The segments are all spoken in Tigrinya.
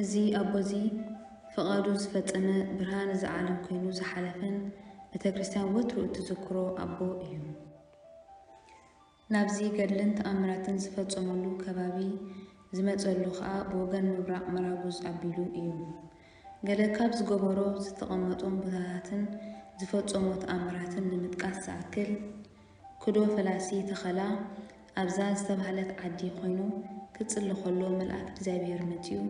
እዚ ኣቦ እዚ ፍቓዱ ዝፈጸመ ብርሃን እዛ ዓለም ኮይኑ ዝሓለፈን ቤተክርስትያን ወትሩ እትዝክሮ ኣቦ እዩ። ናብዚ ገድልን ተኣምራትን ዝፈጸመሉ ከባቢ ዝመጸሉ ከኣ ብወገን ምብራቕ መራጉዝ ኣቢሉ እዩ። ገለ ካብ ዝገበሮ ዝተቐመጦም ቦታታትን ዝፈጸሞ ተኣምራትን ንምጥቃስ ዝኣክል፣ ክዶ ፈላሲ ተኸላ ኣብዛ ዝተባህለት ዓዲ ኮይኑ ክጽሊ ከሎ መልኣክ እግዚኣብሄር መጺኡ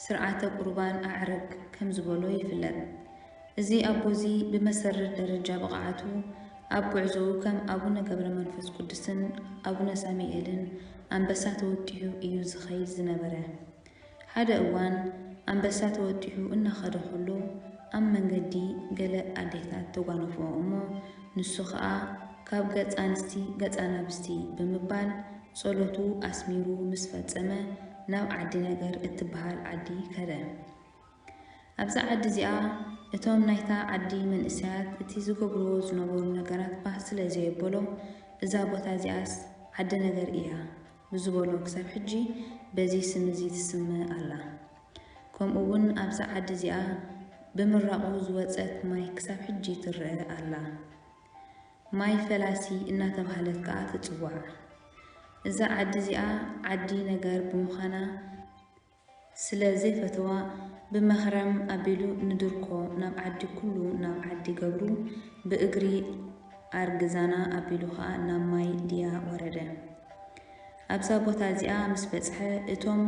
ስርዓተ ቁርባን ኣዕርግ ከም ዝበሎ ይፍለጥ። እዚ ኣቦዚ ብመሰረት ደረጃ ብቕዓቱ ኣብ ጉዕዞኡ ከም ኣቡነ ገብረመንፈስ ቅዱስን ኣቡነ ሳሚኤልን ኣንበሳ ተወጢሑ እዩ ዝኸይድ ዝነበረ። ሓደ እዋን ኣንበሳ ተወጢሑ እናኸደ ኸሎ ኣብ መንገዲ ገለ ኣዴታት ተጓነፍኦ እሞ ንሱ ኸኣ ካብ ገጽ ኣንስቲ ገጽ ኣናብስቲ ብምባል ጸሎቱ ኣስሚሩ ምስ ፈጸመ ናብ ዓዲ ነገር እትበሃል ዓዲ ከደ። ኣብዛ ዓዲ እዚኣ እቶም ናይታ ዓዲ መንእሰያት እቲ ዝገብርዎ ዝነበሩ ነገራት ባህ ስለ ዘየበሎም እዛ ቦታ እዚኣስ ዓዲ ነገር እያ ብዝበሎ ክሳብ ሕጂ በዚ ስም እዚ ትስመ ኣላ። ከምኡ ውን ኣብዛ ዓዲ እዚኣ ብምራቑ ዝወጸት ማይ ክሳብ ሕጂ ትረኣ ኣላ። ማይ ፈላሲ እናተባህለት ከኣ ትጽዋዕ። እዛ ዓዲ እዚኣ ዓዲ ነገር ብምዃና፣ ስለ ዘይፈተዋ ብመህረም ኣቢሉ ንድርኮ ናብ ዓዲ ኩሉ ናብ ዓዲ ገብሩ ብእግሪ ኣርግዛና ኣቢሉ ከኣ ናብ ማይ ድያ ወረደ ኣብዛ ቦታ እዚኣ ምስ በጽሐ እቶም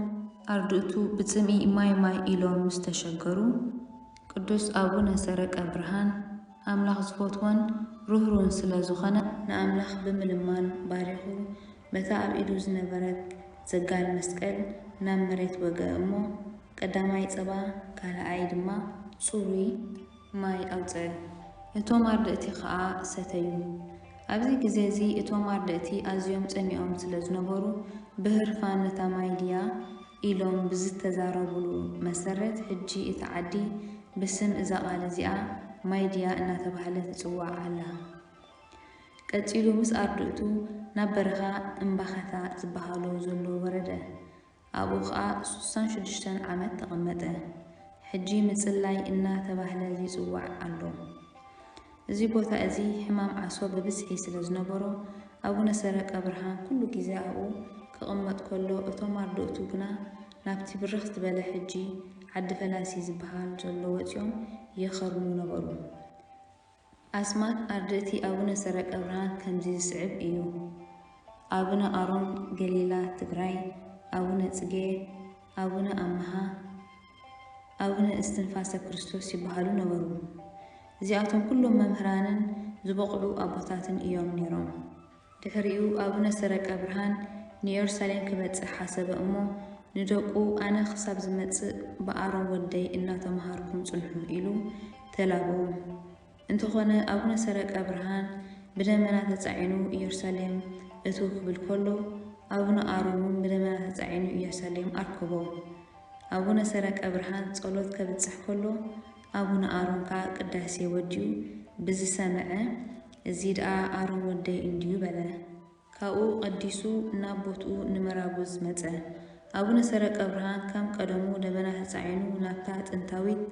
ኣርድእቱ ብጽምኢ ማይ ማይ ኢሎም ምስ ተሸገሩ ቅዱስ ኣቡነ ሰረቀ ብርሃን ኣምላኽ ዝፈትዎን ርህሩህን ስለ ዝኾነ ንኣምላኽ ብምልማን ባሪኹ በታ ኣብ ኢዱ ዝነበረት ዘጋል መስቀል ናብ መሬት ወግኣ እሞ ቀዳማይ ጸባ ካልኣይ ድማ ጽሩይ ማይ ኣውጽኣ። እቶም ኣርድእቲ ኸኣ ሰተዩ። ኣብዚ ግዜ እዚ እቶም ኣርድእቲ ኣዝዮም ጸሚኦም ስለ ዝነበሩ ብህርፋን ነታ ማይ ድያ ኢሎም ብዝተዛረቡሉ መሰረት ሕጂ እታ ዓዲ ብስም እዛ ቓል እዚኣ ማይ ድያ እናተባህለት ትጽዋዕ ኣላ። ቀጺሉ ምስ ኣርድእቱ ናብ በረኻ እምባኸታ ዝበሃሎ ዘሎ ወረደ። ኣብኡ ከኣ ሱሳን ሽዱሽተን ዓመት ተቐመጠ። ሕጂ ምጽላይ እና ተባህለ ይጽዋዕ ኣሎ። እዚ ቦታ እዚ ሕማም ዓሶ ብብዝሒ ስለ ዝነበሮ ኣቡነ ሰረቀብርሃን ኩሉ ግዜ ኣብኡ ክቕመጥ ከሎ እቶም ኣርድእቱ ግና ናብቲ ብርኽ ዝበለ ሕጂ ዓዲ ፈላሲ ዝበሃል ዘሎ ወጺኦም ይኸርሙ ነበሩ። ኣስማት ኣርድእቲ ኣቡነ ሰረቀብርሃን ከምዚ ዝስዕብ እዩ፣ ኣቡነ ኣሮን ገሊላ ትግራይ፣ ኣቡነ ጽጌ፣ ኣቡነ ኣምሃ፣ ኣቡነ እስትንፋሰ ክርስቶስ ይበሃሉ ነበሩ። እዚኣቶም ኩሎም መምህራንን ዝበቑዑ ኣቦታትን እዮም ነይሮም። ድሕሪኡ ኣቡነ ሰረቀ ብርሃን ንዮርሳሌም ክበጽሕ ሓሰበ እሞ ንደቁ ኣነ ክሳብ ዝመጽእ ብኣሮን ወደይ እናተመሃርኩም ጽንሑ ኢሉ ተላበዎም። እንተኾነ ኣቡነ ሰረቀ ብርሃን ብደመና ተጻዒኑ ኢዮርሳሌም እትው ክብል ከሎ ኣቡነ ኣሮን እውን ብደመና ተጻዒኑ ኢዮርሳሌም ኣርከቦም። ኣቡነ ሰረቀ ብርሃን ጸሎት ከብጽሕ ከሎ ኣቡነ ኣሮን ከኣ ቅዳሴ ወዲኡ ብዝሰመዐ እዚ ደኣ ኣሮን ወደይ እንድዩ በለ። ካብኡ ቀዲሱ ናብ ቦትኡ ንመራጉዝ መጸ። ኣቡነ ሰረቀብርሃን ከም ቀደሙ ደበና ተጻዒኑ ናብታ ጥንታዊት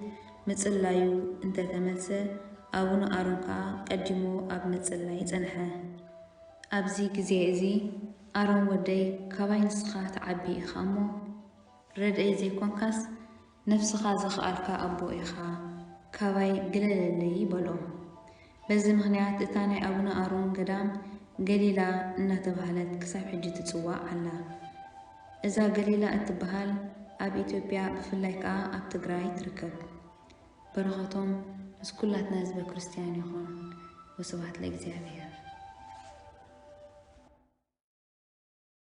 ምጽላዩ እንተ ተመልሰ፣ ኣቡነ ኣሮን ከኣ ቀዲሙ ኣብ ምጽላይ ጸንሐ። ኣብዚ ግዜ እዚ ኣሮን ወደይ ካባይ ንስኻ ትዓቢ ኢኻ እሞ ረድኤይ ዘይኮንካስ፣ ነፍስኻ ዘኽኣልካ ኣቦ ኢኻ፣ ካባይ ግለለለይ በሎ። በዚ ምኽንያት እታ ናይ ኣቡነ ኣሮን ገዳም ገሊላ እናተባህለት ክሳብ ሕጂ ትጽዋዕ ኣላ። እዛ ገሊላ እትበሃል ኣብ ኢትዮጵያ ብፍላይ ከኣ ኣብ ትግራይ ትርከብ። በረኸቶም ምስ ኩላትና ህዝበ ክርስትያን ይኹን። ወስብሐት ለእግዚኣብሔር።